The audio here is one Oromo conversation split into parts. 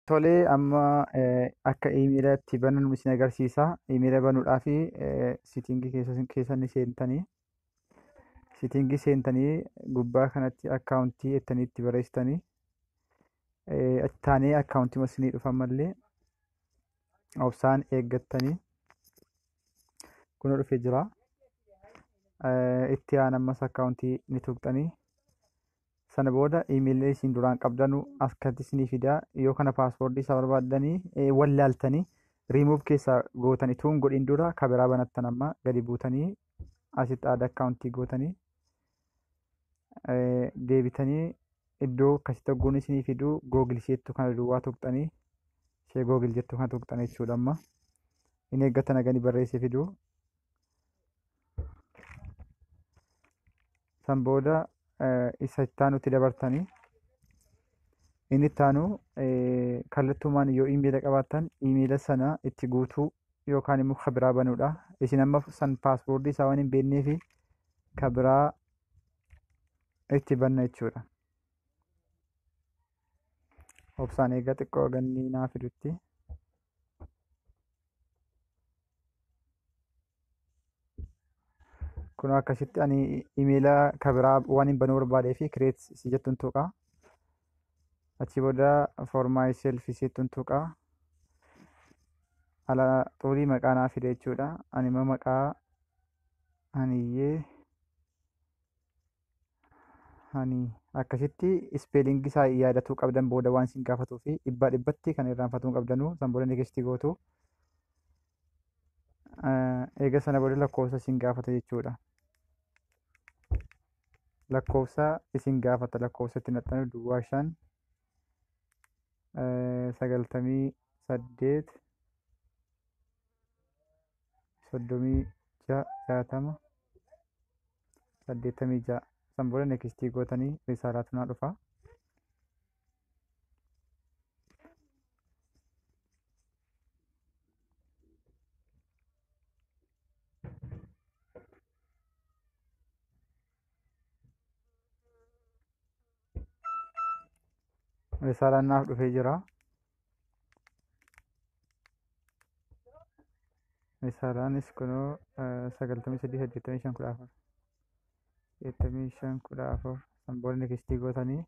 Tolee amma akka iimeela itti bananu isin agarsiisa. Iimeela banuudhaaf sitingii keessa ni seentanii. Sitingii seentanii gubbaa kanatti akkaawuntii jettanii itti barreessitanii. Achi taanee akkaawuntii masinii dhufan malee obsaan eeggattanii kun dhufee jira. Itti aan ammas akkaawuntii ni tuqxanii. sana booda imeelii isin duraan qabdanu as kanatti isinii fida yoo kana paaswoordii isaa barbaaddanii eh, wallaaltanii riimuuf keessaa gootanii tuun godhin dura kabiraa banattan amma gadi buutanii asitti aada akkaawuntii gootanii eh, deebitanii iddoo akkasitti ogguun isinii fiduu googil isheettu kana duwwaa tuqxanii ishee googil jettu kana tuqxanii jechuudha amma hin eeggatan hagani barreessee fiduu san booda isa itti aanutti dabartanii inni itti aanu kallattumaan yoo imeela qabaattan imeela sana itti guutuu yookaan immoo ka biraa banuudha. Isin amma san paaspoortii isaa waan hin beekneef ka biraa itti banna jechuudha. Obsaan eegaa xiqqoo ganni naa fidutti. kun akkasitti ani imeela kabiraa waan hin banuu barbaadee fi kireet si jettuun tuqa achi booda foormaay seelfi seettuun tuqa ala xuulii maqaa naa fide jechuudha ani immoo maqaa aniyyee Ani akkasitti ispeelingii isaa yaadatuu qabdan booda waan isin gaafatuu fi dhibbaa dhibbatti kan irraanfatuu qabdanuu san booda neekistii gootu. Eega sana booda lakkoofsa isin gaafata jechuudha. Lakkoofsa isin gaafata lakkoofsa itti naxxanu duwwaa shan sagaltamii saddeet soddomii ja'a jaatama saddeettamii ja'a san booda nekistii gootanii risaalaa tunaa dhufa risaalaan naaf dhufee jira Risaalaanis kunoo sagaltamii sadii saddeettamii shan kudha afur saddeettamii shan kudha afur san booda nikistii gootanii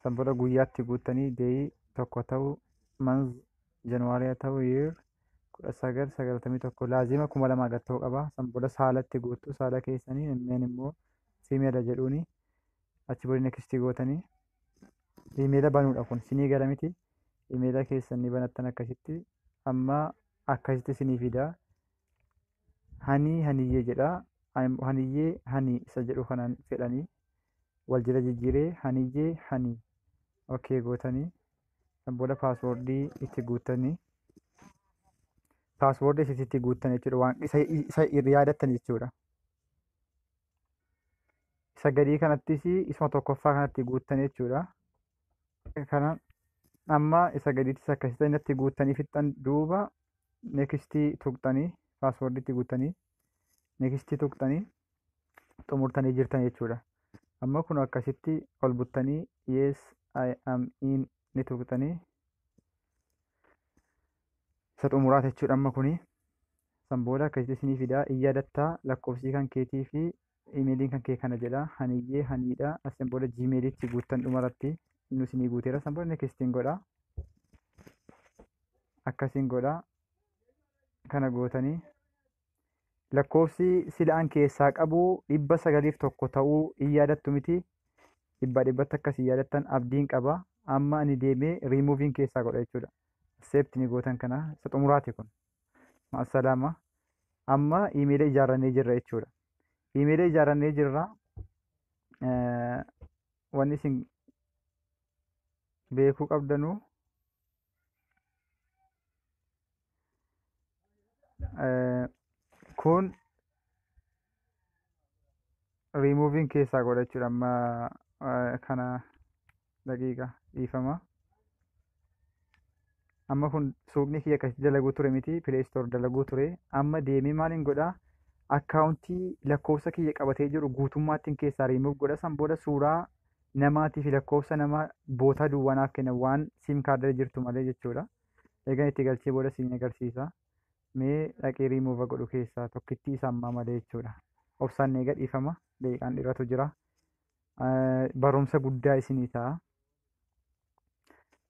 san booda guyyaatti guuttanii deeyii tokko ta'uu manz januwaariyaa ta'uu yeer kudha sagal sagaltamii tokko laazima kuma lamaa gad ta'uu qaba san booda saalatti guuttu saala keessanii meen immoo fiimeela jedhuuni achi booda nikistii gootanii imeela banuudha kun sinii gala miti imeela keessan ni banattan akkasitti amma akkasitti sinii fida hanii haniyyee jedha haniyyee hanii isa jedhu kanaan fedhanii wal jala jijjiiree haniyyee hanii okee gootanii booda paaswoordii itti guuttanii paaswoordii itti guuttan jechuudha waan isa yaadatan jechuudha. isa gadii kanattis isuma tokkoffaa kanatti guuttan jechuudha. Kana amma isa gadiittis akkasitti innatti guuttanii fixxan duuba nekistii tuqxanii paaswoordiitti guuttanii nekistii tuqxanii xumurtanii jirtan jechuudha. Amma kun akkasitti ol buttanii yes I am in ni tuqxanii isa xumuraa jechuudha amma kuni san booda akkasitti isinii fidaa in yaadattaa lakkoofsii kan keetii fi imeeliin kan kee kana jedha haniyyee haniidha asin booda jiimeeliitti guuttan dhumaratti inni isinii guuteera san booda nekistiin godha akkasiin godha kana gootanii lakkoofsi sila an keessaa qabu dhibba sagaliif tokko ta'uu in yaadattu miti dhibbaa dhibbatti akkas hin yaadattan abdiin qaba amma ani deemee riimuuviin keessaa godha jechuudha seepti ni gootan kana isa xumuraati kun maasalaama amma iimeela ijaarrannee jirra jechuudha iimeela ijaarrannee jirra wanni isin beekuu qabdanuu Eh, kun riimuuviin keessaa godha jechuudha amma eh, kana daqiiqa dhiifama amma kun suuqni kiyya akkasitti dalaguu ture miti pileestoor dalaguu ture amma deemee maaliin godha akkaawuntii lakkoofsa kiyya qabatee jiru guutummaattiin keessaa riimuuf godha san booda suuraa namaatii fi lakkoofsa nama bootaa duwwaa naaf kenna waan siim kaardirra jirtu malee jechuudha. Eegan itti galchee booda siin agarsiisa. Mee dhaqee riimuuva godhu keessaa tokkittii isa ammaa malee jechuudha. Obsaan eega dhiifama daqiiqaan dheeratu jira. Barumsa guddaa isinii ta'a.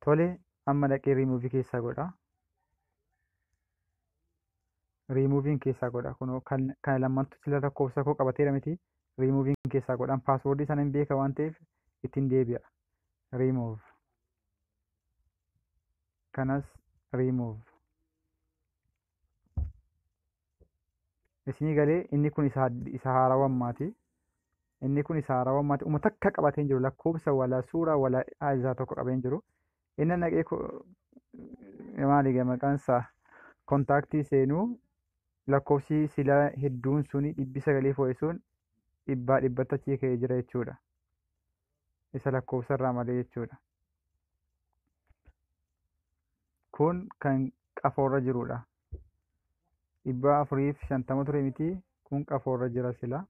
Tole amma dhaqee riimuuvi keessaa godha. riimuuviin keessaa godha kunoo kan kan lammantu sila lakkoofsa koo qabateera miti riimuuviin keessaa godhan paaswoordii sana hin beeka waan ta'eef ittiin deebi'a riimuuv kanas riimuuv isinii galee inni kun isa had- isa haarawaa ammaati inni kun isa haarawaa ammaati uma takka qabatee hin jiru lakkoofsa wala suura wala isaa tokko qabee hin jiru Inni naqee maaliiga maqaan isaa kontaaktii seenuu lakkoofsi silaa hedduun suni dhibbi sagalii foo'isuun dhibbaa dhibbatti achi ka'ee jira jechuudha. Isa lakkoofsa irraa malee jechuudha. Kun kan qafoorra jirudha. Dhibbaa afuriif shantama ture miti kun qafoorra jira silaa.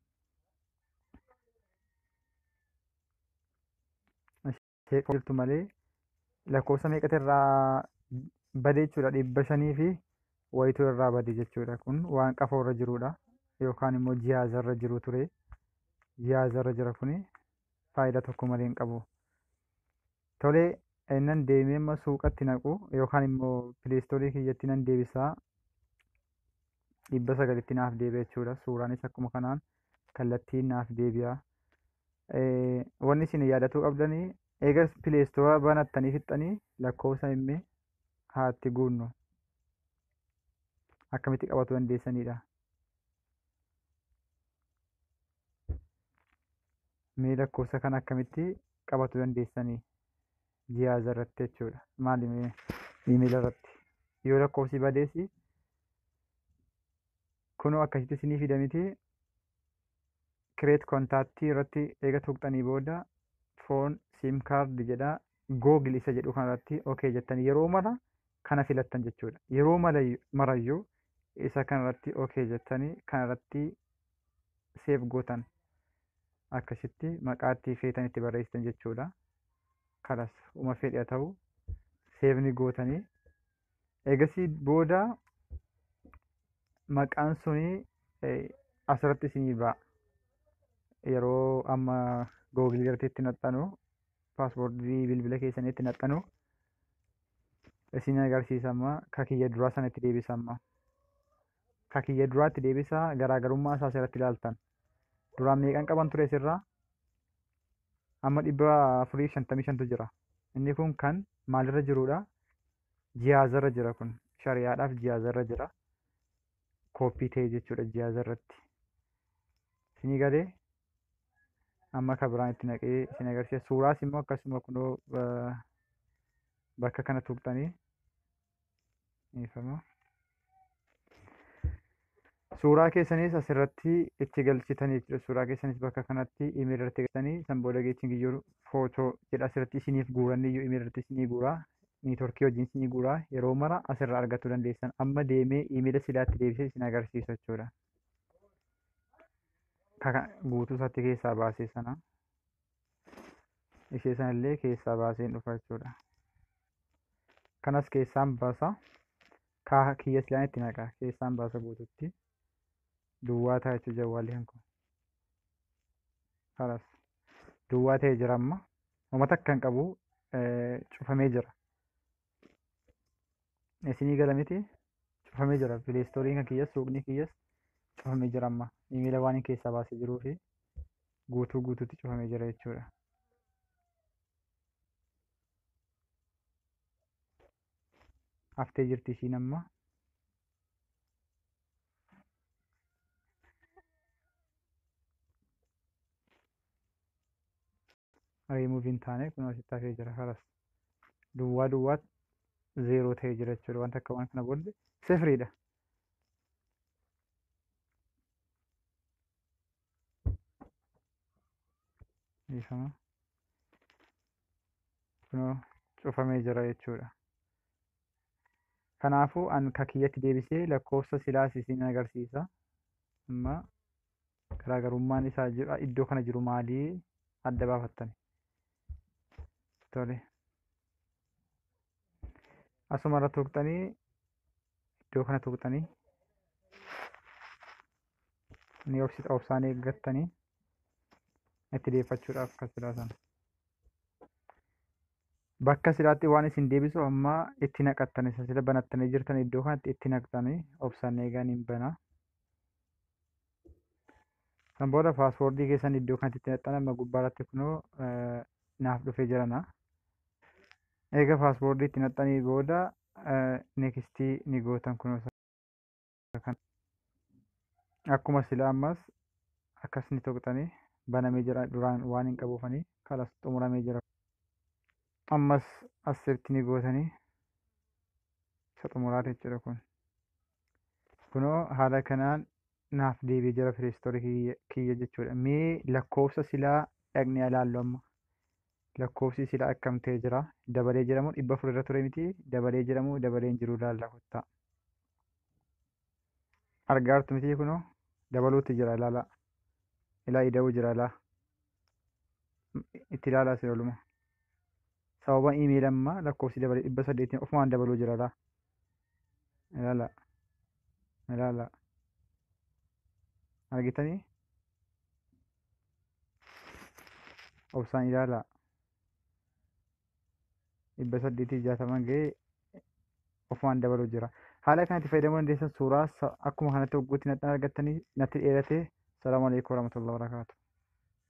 seeqaa jirtu malee lakkoofsa meeqatu irraa bade jechuudha dhibba shanii fi wayituu irraa bade jechuudha kun waan qafoo irra jirudha yookaan immoo jihaaza irra jiru ture jihaaza irra jira kuni faayidaa tokko malee hin qabu tolee innan deemee amma suuqatti naqu yookaan immoo pileestoorii kiyyatti nan deebisaa dhibba sagalitti naaf deebi'a jechuudha suuraanis akkuma kanaan kallattiin naaf deebi'a Eh, wanni isin yaadatuu qabdanii eega pileestoora banattanii fixxanii lakkoofsa imme haatti guunnu akkamitti qabatu dandeessanidha mee lakkoofsa kana akkamitti qabatu dandeessanii jihaaza irratti jechuudha. Maali imeela irratti. Yoo lakkoofsi badeessi kunoo akkasitti isinii fida miti. Kireet kontaaktii irratti eega tuqxanii booda foon siim kaardi jedha googil isa jedhu kanarratti okee jettan yeroo mara kana filattan jechuudha. Yeroo marayyuu isa kanarratti okee jettanii kanarratti seef gootan akkasitti maqaatti feetan itti barreessitan jechuudha. kalas uma fedhe haa ta'u seef ni gootanii eegasii booda maqaan suni eh, asirratti isinii ba'a yeroo amma googilii irratti itti naxxanu paaspoortii bilbila keessanii itti naxxanu isin agarsiisa amma ka kiyya duraa sana itti deebisa amma ka kiyya duraa itti deebisa garaagarummaa isaa asirratti ilaaltan duraan meeqan qaban ture sirraa amma dhibba afurii fi shantamii shantu jira inni kun kan maalirra jirudha jihaazarra jira kun shariyaadhaaf jihaazarra jira kooppii ta'e jechuudha jihaazarratti isinii galee amma akka biraan itti naqee isin agarsiisa suuraas immoo akkasuma kunoo eh, bakka kana tuqxanii dhiifama. Suuraa keessanis asirratti itti galchitan jechuudha. Suuraa keessanis bakka kanatti imeeli irratti galchitanii san booda geechiin giyyoo footoo jedha asirratti isiniif guuran iyyuu imeeli irratti isinii guura. Niitoorkii wajjin isinii guura. Yeroo mara asirraa argachuu dandeessan. Amma deemee imeela silaatti deebisee isin agarsiisa jechuudha. Kaka guutuu isaatti keessaa baasee sana ishee sanallee keessaa baaseen dhufa jechuudha. kanas keessaan baasa kaa kiyya silaan itti naqa keessaan baasa guututti duwwaa ta'a jechuudha jawwaalli kan kun kanas duwwaa ta'ee jira amma uummata akka hin qabu cufamee jira isinii gala miti cufamee jira pileestooriin kan kiyyas suuqni kiyyas cufamee jira amma imeela waan hin keessaa baasee jiruu fi guutuu guutuutti cufamee jira jechuudha. haftee jirti ishiin amma remove hin taane kun asitti hafee jira haras duwwaa duwwaa zeeroo ta'ee jira jechuudha wanta akka waan kana boolle sifriidha dhiifama kunoo cufamee jira jechuudha. Kanaafuu an ka kiyyatti deebisee lakkoofsa silaas isin agarsiisa. Amma garaagarummaan isaa jiru iddoo kana jiru maalii adda baafattani. Tole. Asuma irra tuqxanii iddoo kana tuqxanii ni obsita obsaan eeggattanii itti deeffachuudhaaf kan silaa sana. Bakka silaatti waan isin deebisu amma itti naqattan isa sila banattanii jirtan iddoo kanatti itti naqxanii obsaan eegaan hin bana. San booda paaswoordii keessan iddoo kanatti itti naqxan amma gubbaarratti kunoo naaf dhufee jirana. Eega paaswoordii itti naqxanii booda nekistii ni gootan kunoo. kan akkuma sila ammas akkas ni tuqxanii banamee jira duraan waan hin qabuufanii kalas xumuramee jira ammas asirratti ni gootanii isa xumuraati jechuudha kun kunoo haala kanaan naaf deebi'ee jira pireestoorii kiyya- kiyya jechuudha mee lakkoofsa silaa dhaqnee ilaallu amma lakkoofsi silaa akkam ta'e jira dabalee jiramoo dhibba afur irra ture miti dabalee jiramoo dabalee hin jiru ilaalla kottaa argaa jirtu mitii kunoo dabaluutti jira ilaalaa ilaa ida'uu jira ilaa itti ilaalaa si ooluma sababa iimeeli amma lakkoofsi dabalee dhibba saddeetiin ofumaan dabaluu jira ilaa ilaalaa ilaalaa argitanii obsaan ilaalaa dhibba saddeetii jaatama ga'ee ofumaan dabaluu jira. Haala kanatti fayyadamuu dandeessan suuraa akkuma kanatti hogguutti nadhaan argattanii natti dheeratee salaamu alaikum warahmatullahi wabarakatuh.